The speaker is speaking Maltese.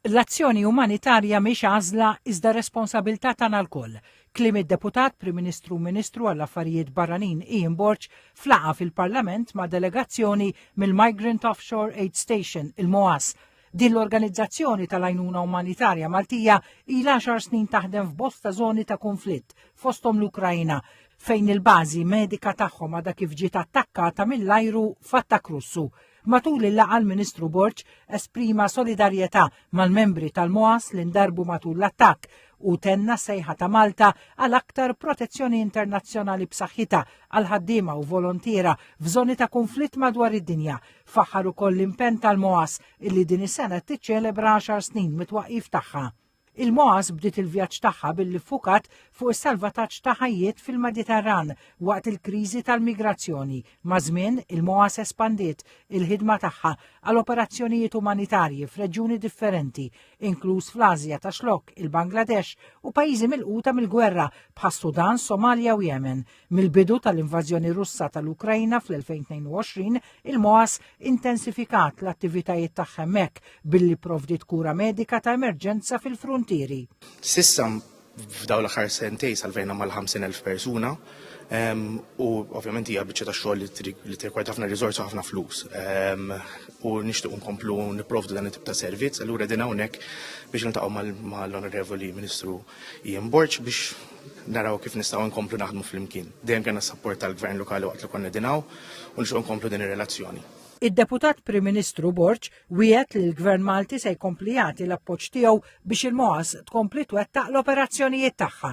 L-azzjoni umanitarja mhix għażla iżda responsabilità tagħna lkoll. Kliem id-Deputat Prim Ministru u Ministru għall-Affarijiet Barranin Ian Borg f'laqgħa fil-Parlament ma' delegazzjoni mill-Migrant Offshore Aid Station, il-MOAS. Din l-organizzazzjoni tal-għajnuna umanitarja Maltija ilha għaxar snin taħdem f'bosta żoni ta' kunflitt, fosthom l-Ukraina, fejn il-bażi medika tagħhom għadha kif ġiet attakkata mill-ajru f'attakk Russu. Matul il-laqgħa l-Ministru Borg esprima solidarjetà mal-membri tal-MOAS li ndarbu matul l-attakk u tenna sejħa ta' Malta għal aktar protezzjoni internazzjonali b'saħħitha għal ħaddiema u volontiera f'żoni ta' kunflitt madwar id-dinja. Faħħar ukoll l-impenn tal-MOAS illi din is-sena tiċċelebra 10 snin mit-twaqqif tagħha. Il-MOAS bdiet il-vjaġġ tagħha billi ffukat fuq is-salvataġġ ta' ħajjiet fil-Mediterran waqt il-kriżi tal-migrazzjoni. Maż-żmien, il-MOAS espandiet il-ħidma tagħha għal operazzjonijiet umanitarji f'reġjuni differenti, inkluż fl-Ażja ta' Xlokk, il-Bangladesh u pajjiżi milquta mill-gwerra bħas-Sudan, Somalja u Jemen. Mill-bidu tal-invażjoni Russa tal-Ukrajna fl-2022, il-MOAS intensifikat l-attivitajiet tagħha hemmhekk billi provdiet kura medika ta' emerġenza fil-fruntieri. S'issa f'dawn l-aħħar sentejn salvejna mal-50,000 persuna ehm, u ovvjament hija biċċa ta' xogħol li tirkwajt ħafna riżorsi ħafna flus. Ehm, u nixtieq nkomplu nipprovdu dan it-tip ta' servizz, allura din hawnhekk biex niltaqgħu mal-Onorevoli Ministru Jien Borg biex naraw kif nistgħu nkomplu naħdmu flimkien. Dejjem kellna s-sapport tal-Gvern Lokali waqt li konna dinaw u nixtieq nkomplu din ir-relazzjoni. Id-Deputat Prim Ministru Borg wiegħed li l-Gvern Malti se jkompli jagħti l-appoġġ tiegħu biex il-MOAS tkompli twettaq l-operazzjonijiet tagħha.